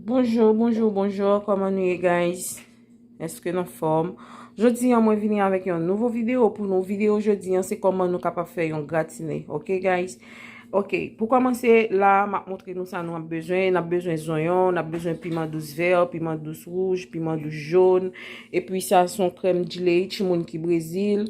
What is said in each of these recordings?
Bonjour, bonjour, bonjour, kòman nou ye guys? Eske nou fòm? Jodi an mwen vini avèk yon nouvo video pou nou video jodi an se kòman nou kapap fè yon gratine, ok guys? Ok, pou kòmanse la, m ap montre nou sa nou ap bezwen, n ap bezwen zonyon, n ap bezwen piman dous vè, piman dous wouj, piman dous joun, epi sa son krèm djilei, timoun ki brezil.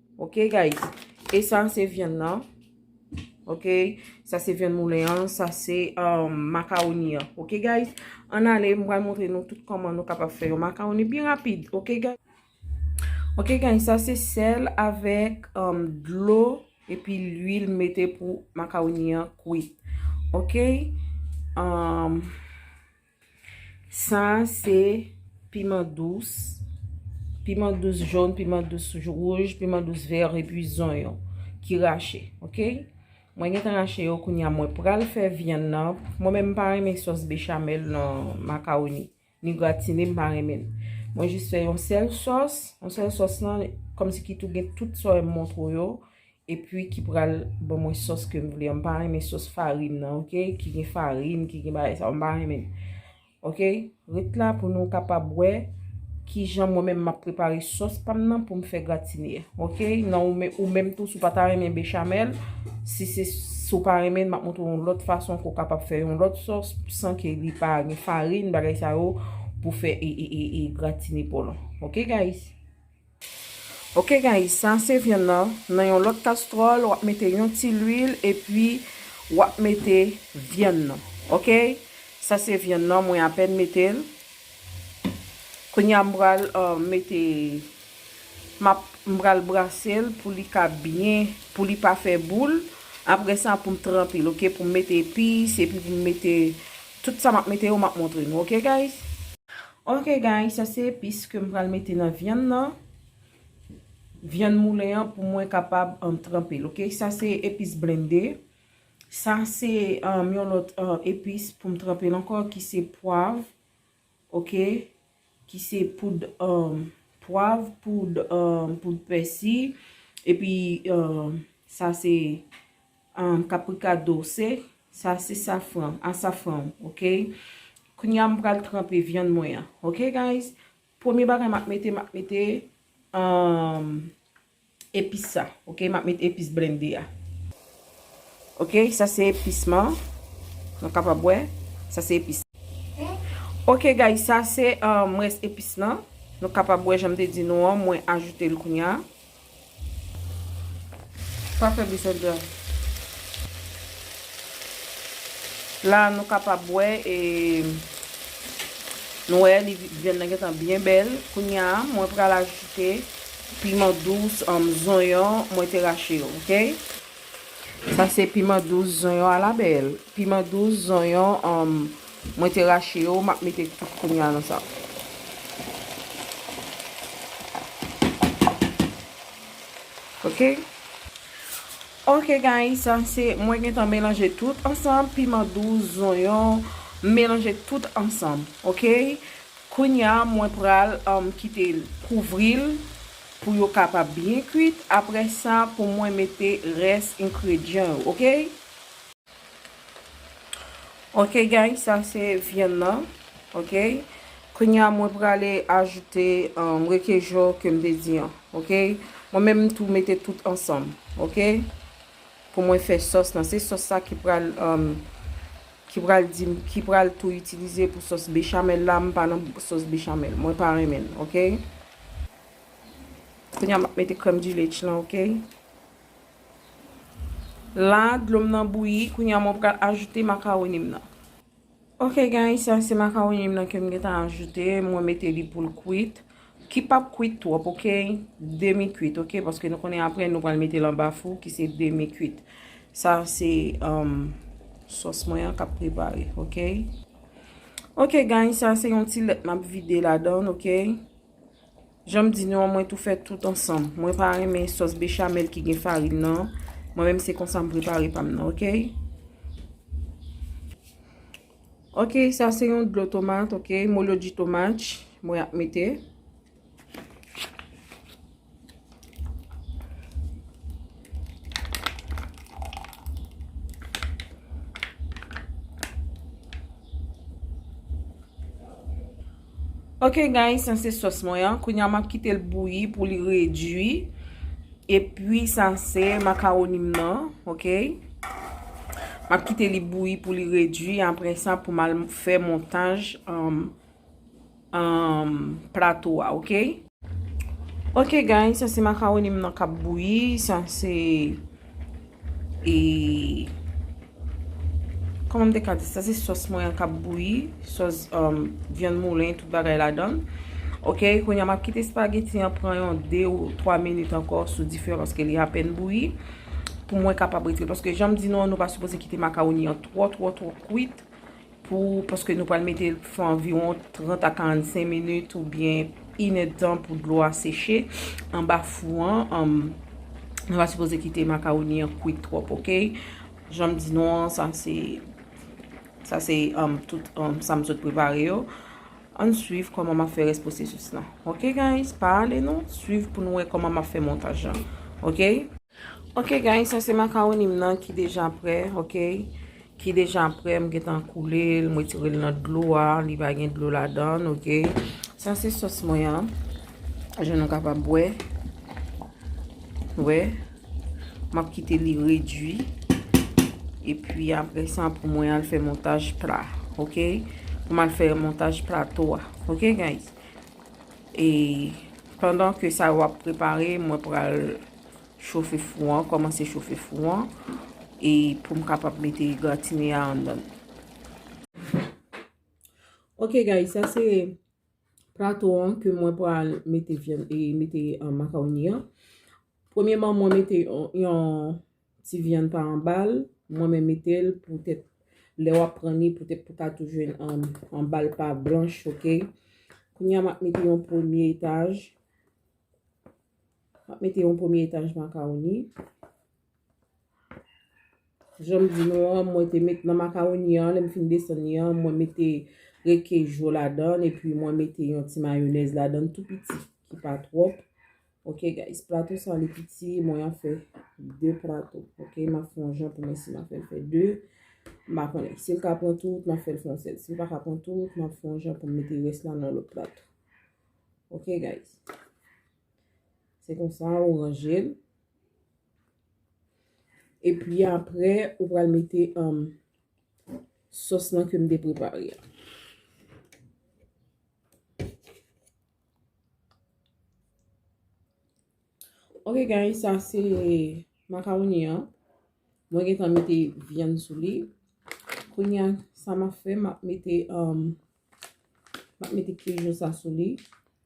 Ok guys. E sa se vyann nan. Ok. Sa se vyann moulen an. Sa se makaroni an. Ok guys. An ale mwen al montre nou tout koman nou kapap fè yon makaroni byen rapid. Ok guys. Ok guys. Sa se sel avek dlo. E pi l'huil mete pou makaroni an kwit. Ok. Eee. Sa a se piman dous, piman dous joun, piman dous rouj, piman dous ver, epi zonyon ki rache. Ok? Mwen gen tan rache yo koun ya mwen pral fè vyann nan. Mwen men m pa renmen sos bechamel nan makaroni. Ni gratine m pa renmen. Mwen jis fè yon sèl sos. Yon sèl sos nan, kòm si ki tou gen tout sa yo m montre w yo. Epi ki pral ban mwen sòs ke m vle an. M pa renmen sòs farin nan ok. Ki gen farin, ki gen bagay sa yo. M pa renmen l. Ok. Ret la pou nou kapab wè ki jan mwen menm m ap prepare sòs pa m nan pou m fè gratine. Ok. Nan ou menm tou si w pa ta renmen bechamel. Si se si w pa renmen l m ap montre w yon lòt fason ke w kapab fè yon lòt sòs san ke li pa gen farin bagay sa yo pou fè e gratine pa w lan. Ok guys. Ok guys sa se vyann nan, nan yon lòt kastròl wap mete yon ti lwil epi wap mete vyann nan ok sa se vyann nan mwen apèn metel kounya m pral mete map m pral brasel pou li ka byen pou li pa fè boul aprè sa poum tranpel ok poum mete epis epi poum mete tout sa map mete yo map montre nou ok guys. Ok guys sa se epis kem pral mete nan vyann nan vyann moulen an pou mwen kapab tranpel ok sa se epis blende sa se yon lot epis poum tranpel anko ki se pwav ok ki se poud pwav poud pèsi epi sa se Ahh caprica douce sa se safran a safran w ok kounya m pral tranpe vyann mwen an ok guys premye bagay map mete map mete ahh epis sa ok map mete epis blende a ok sa se epis man nou kapab wè sa se epis ok guys sa se ahh res epis lan nou kapab wè janm te di nou an mwen ajoute l kounya Pa fè bisèt blan. La nou kapab wè e nou wè li vyann nan gentan byen bèl. Kounya mwen pral ajoute piman dous an zonyon mwen te rache yo ok. Sa se piman dous zonyon ala bèl. Piman dous zonyon an. Mwen te rache yo, map mete tout kounya nan sa. Ok. Ok guys, sa se mwen gentan melanje tout ansanm, piman dous, zonyon, melanje tout ansanm. Ok. Kounya mwen pral kite kouvril pou yo kapab byen kwit, aprè sa pou mwen mete rès ingredyan yo. Ok. Ok guys sa se vyann nan ok kounya mwen prale ajoute rekejo kem te di an ok mwen menm tou mete tout ansanm ok pou mwen fè sos nan se sos sa ki pral ki pral di ki pral tou itilize pou sos bechamel la mwen pa nan sos bechamel mwen pa renmen l ok kounya map mete krèm di lech lan ok. La dlo m nan bouyi, kounye a mwen pral ajoute makawoni m nan. Ok guys, sa se makawoni m nan ke m gen tan ajoute, mwen mete li pou l kwit. Ki pap kwit twòp ok, demi kwit ok, paske nou konnen apre nou pral mete l anba fou ki se demi kwit. Sa se sòs mwen an kap prepare ok. Ok guys, sa se yon ti lèt map vide ladan ok. Janm di nou an mwen tou fè tout ansanm. Mwen pa renmen sòs bechamel ki gen farin nan. Mwen menm se konsa m prepare pam nan ok. Ok sa se yon dlo tomat ok. Molo di tomat mwen ap mete. Ok guys sa se sòs mwen an kounya map kitel bouyi pou li redwi epi sa se makaroni m nan ok map kite li bouyi pou li redwi apre sa pou mal fè montaj an an plato a ok. Ok guys sa se macaroni m nan kap bouyi sa se e Koman m te ka di sa se sòs mwen an kap bouyi sòs euh vyann moulen tout bagay ladann ok kounya map kite spaghetti an pran yon 2 ou 3 minit ankò sou dife paske li apèn bouyi pou mwen kapab retire paske janm di nou an nou pa sipoze kite macaroni an twò twò twò kwit. Pou, paske nou pral mete l pou fè anviwon 30 a 45 minit oubyen inèdtan pou dlo a seche anba fou an. Nou pa sipoze kite makawoni an kwit twòp ok. Jan m di nou an, sa se, sa se tout sa m sot prepare yo. Ann swiv kòman map fè rès pwosesis lan. Ok guys, pa ale non, swiv pou nou wè kòman map fè montaj lan. Ok. Ok guys sa se makaronim nan ki deja prè ok ki deja prè m gentan koule l m retire l nan dlo a li pa gen dlo ladann ok sa se sòs mwen an jan nou kapab wè wè m ap kite li redwi epi apre sa pou mwen al fè montaj pla ok pou m al fè montaj plato a ok guys e pandan ke sa yo ap prepare mwen pral chofe fou an, kòmanse chofe fou an, e pou m kapab mete gratine a anndan l. Ok guys, sa se plato an ke mwen pral mete vyann e mete makaroni an. Premyeman mwen mete yon ti vyann pa anba l, mwen men mete l pou tèt lè w ap pran li pou tèt pou ka tou jwenn anba l pa blanch ok. Kounya m ap mete yon premye etaj. Map mete yon premye etaj makawoni. Janm di nou an, mwen te met nan makawoni an, lèm fin desann li an, mwen mete rekejo ladan, epi mwen mete yon ti mayonèz ladan tou piti, ki pa twòp. Ok guys, plato sa li piti, mwen an fè 2 plato. Ok, map fè yon jan pou mwen si map fè 2. Mpa konnen, sil ka pran tout, map fèl fè yon sèl. Sil paka pran tout, map fè yon jan pou mwen mete rès la nan lòt plato. Ok guys. Se konsa ou ranje l. E pi apre ou pral mete um, sos lan ke m te prepare a. Ok guys, sa se makaroni an. Mwen gen tan mete vyann sou li. Koun ya, sa ma fe, ma mete, ma um, mete kejou sa sou li.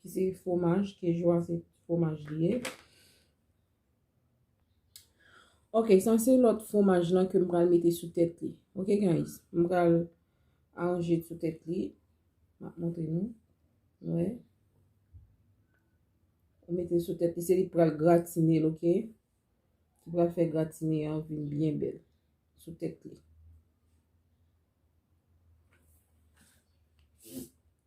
Ki se fwomaj, keju a se fwomaj li ye. Ok, sa se lòt fwomaj lan ke m pral mete sou tèt li. Ok, guys. M pral aranje sou tèt li. M ap montre nou. Wè. M mete sou tèt li. Se li k pral gratine l, ok. Ki pral fè gratine an vin byen bèl. Sou tèt li.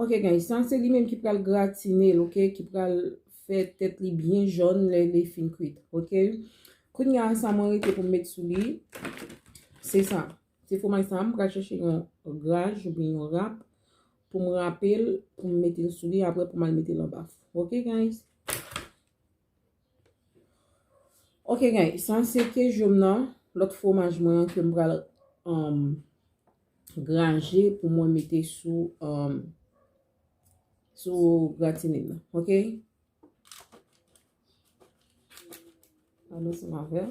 Ok guys, sa se li menm ki pral gratine l ok, ki pral fè tèt li byen jòn lè li fin kwit ok. Kounya sa mwen rete pou m met sou li, se sa, se fwomaj sa, m pral chèche yon graj oubyen yon rap pou m rape l, pou m mete l sou li apre pou m al mete l anba four ok guys. Ok guys, sa se kejom nan, lòt fwomaj mwen an ke m pral graje pou mwen mete sou gratine m nan. Ok. Al ansanm avè m.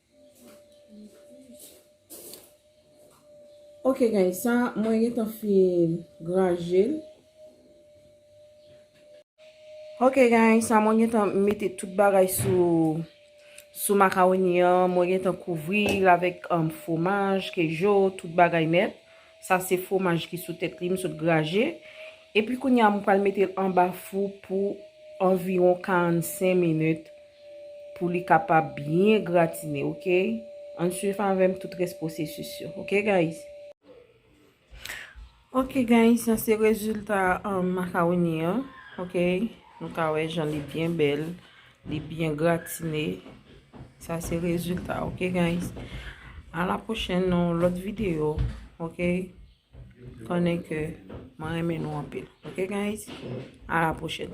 Ok guys, sa mwen gen tan fin graje l. Ok guys, sa mwen gen tan mete tout bagay sou macaroni an. Mwen gen tan kouvri l avèk fwomaj, kejo, tout bagay nèt. Sa se fwomaj ki sou tèt li m sot graje. Epi kounye a mwen pral mete l anba fou pou anviwon 45 minit pou li kapab byen gratine ok. Ann swiv avè m tout rès pwosesis yo ok guys. Ok guys sa se rezilta makawoni an ok. Nou ka wè jan li byen bèl. Li byen gratine. Sa se rezulta ok guys. A la pwochen nan lòt videyo ok. Konnen ke mwen renmen nou anpil ok guys. A la pwochen.